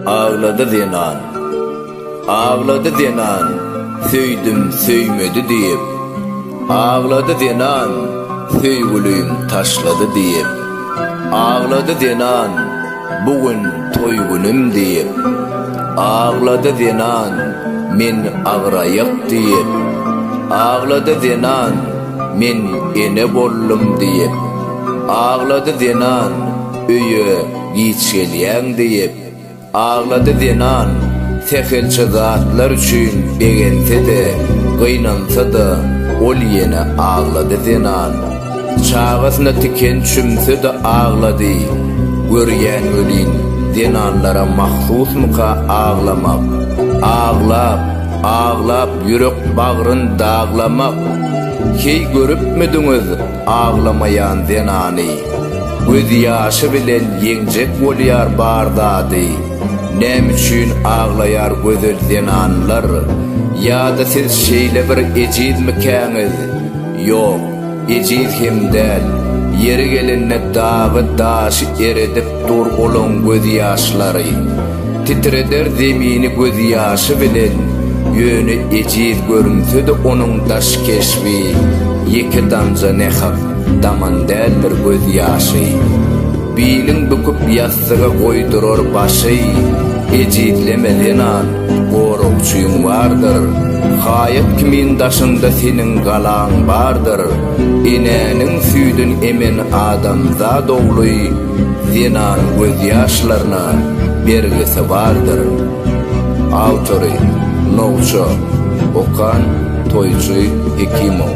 Aglady zenan. Aglady zenan, Söýdüm, söýmedi diýip. Aglady zenan, Söýgülim taşlady diýip. Aglady zenan, Bu gün toý günüm diýip. Aglady zenan, Men agyraýak diýip. Aglady zenan. Men ene boldum diýip, aglady zenan, Öýe giç gelýäň diýip, aglady zenan, Sähelçe zatlar üçin begense-de, gynansa-da, Ol ýene aglady zenan. Çagasyna tiken çümse-de aglady. Görýän welin, zenanlara mahsusmyka aglamak? Aglap, aglap Ýürek-bagryn daglamak. Heý görüpmidiňiz aglamaýan zenany? Göz ýaşy bilen ýeňjek bolýar bar zady. Näme üçin aglaýar gözel zenanlar? Ýa-da siz şeýle bir ejizmikäňiz? Ýok. Ejiz hem däl. Ýeri gelende dagy daşy eredip dur olaň göz ýaşlary. Titreder zemini göz ýaşy bilen. Ýöne ejiz görünsede onuň daş keşbi ýeke damja ne hak daman däldir göz ýaşy. Bilin büküp ýassyga goýdurar başy. Ejizleme zenan. Goragçyň bardyr, haýat kimin daşynda seniň galaň bardyr, Enäniň süýdün emen adamzat ogly, zenanyň gözýaşlaryna bergisi bardyr. Awtory, Nowça, okan, Toýçy Hekimow.